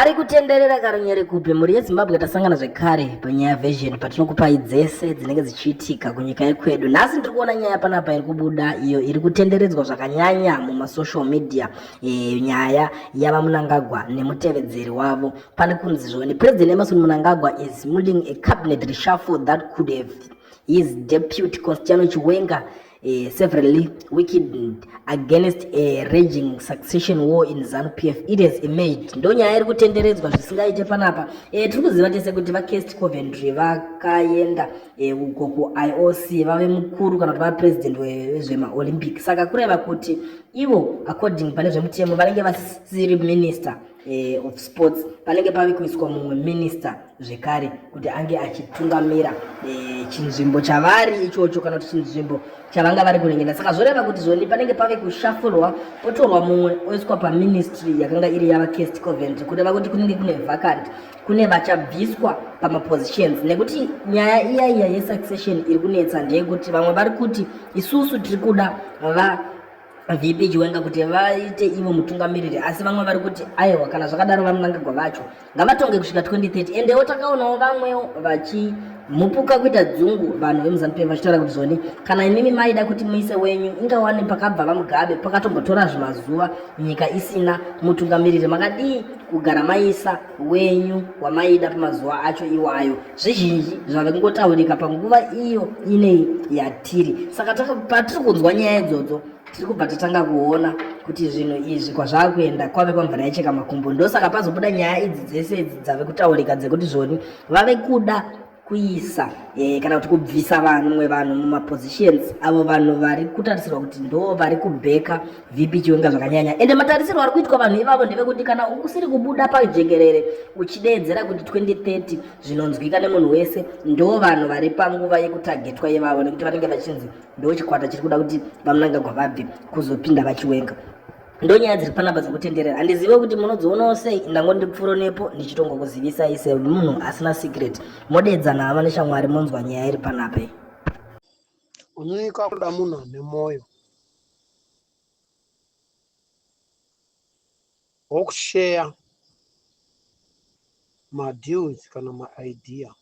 Ari kutenderera karunyere kupi mhuri yezimbabwe tasangana zvekare panyaya version patinokupai dzese dzinenge dzichiitika kunyika yekwedu nhasi ndiri kuona nyaya panapa iri kubuda iyo iri kutenderedzwa zvakanyanya mumasocial media e, nyaya yava munangagwa nemutevedzeri wavo pane kunzi zvoni president emerson munangagwa is muling a cabinet reshuffle that could have his deputy constiano chiwenga uh, severally wicked against a raging succession war in zanu pf it has emerged ndo nyaya iri kutenderedzwa zvisingaite panapa uh, tiri kuziva tese kuti vacast coventry vakaenda eh, uko uh, kuioc vave mukuru kana kuti vapresident vezvemaolympic saka kureva kuti ivo according pane zvemutemo vanenge vasiri minister eh, of sports panenge pave kuiswa mumwe minista zvekare kuti ange achitungamira eh, chinzvimbo chavari ichocho kana kuti chinzvimbo chavanga vari kuringenda saka zvoreva kuti zvoni panenge pave kushafurwa potorwa mumwe oiswa paministry yakanga iri yava cast covent kureva kuti kunenge kune vacant kune vachabviswa pamapositions nekuti nyaya iya iya yesuccession iri kunetsa ndeyekuti vamwe vari kuti isusu tiri kuda va VP Chiwenga kuti vaite ivo mutungamiriri asi vamwe vari kuti aiwa kana zvakadaro vaMnangagwa vacho ngavatonge kusvika 2030 endewo takaonawo vamwewo vachi mupuka kuita dzungu vanhu vemuzanupf vachitaura kuti zvoni kana imimi maida kuti muise wenyu ingawani pakabva vamugabe pakatombotora zvimazuva nyika isina mutungamiriri makadii kugara maisa wenyu wamaida pamazuva acho iwayo zvizhinji zvave kungotaurika panguva iyo inei yatiri saka patiri kunzwa nyaya idzodzo tiri kubva tatanga kuona kuti zvinhu izvi kwazvava kuenda kwave kwamvura yacheka makumbo ndosaka pazobuda nyaya idzi dzese idzi dzave kutaurika dzekuti zvoni vave kuda kuisa eh, kana kuti kubvisa vamwe vanhu mumapositions avo vanhu vari kutarisirwa kuti ndo vari kubheka vp chiwenga zvakanyanya ende matarisirwo ari kuitwa vanhu ivavo ndevekuti kana usiri kubuda pajekerere uchideedzera kuti 2030 zvinonzwika nemunhu wese ndo vanhu vari panguva yekutagetwa yevavo nekuti vanenge vachinzi ndo chikwata chiri kuda kuti vamunangagwa vabve kuzopinda vachiwenga ndonyaya dziri panapa dzekutenderera handizive kuti munodzionawo sei ndangoti pfuro nepo ndichitongokuzivisai semunhu asina secret modeedzana hama neshamwari monzwa nyaya iri panapa kunyika kuda munhu ane mwoyo wokusheya madeals kana maidea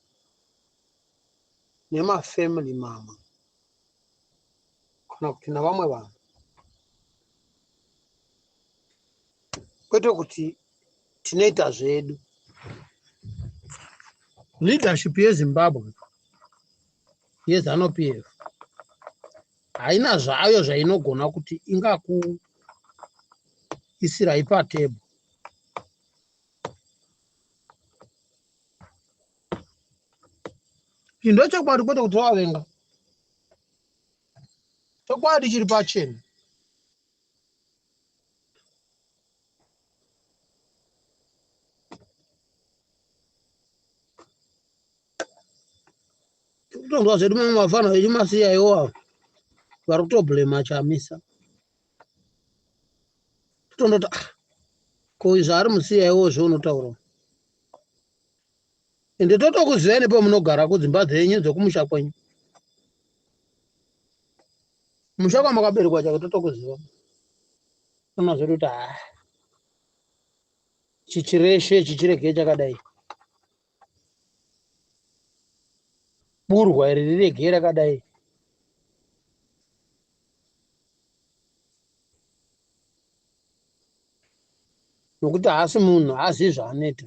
nemafamily mamwe kana kuti navamwe vanhu kwete kuti tinoita zvedu leadership yezimbabwe yezanupf haina zvayo zvainogona kuti ingakuisirai patebho Iyi ndochokwadi kwete kuti wavenga. Chokwadi chiri pachena. Kutonzwa zvedu mamwe mafana vechimasiya iwawo vari kutoblema chamisa. Totondoti ah ko izvo ari musiya iwo zveunotaura. ende totokuzivai nepamunogara kudzimba dzenyu dzekumusha kwenyu musha kwamakaberekwa chake totokuziva unozoti kuti haa ah, chichireshe chichirege chakadai burwa iri rirege rakadai nokuti haasi munhu haazivi zvaanoita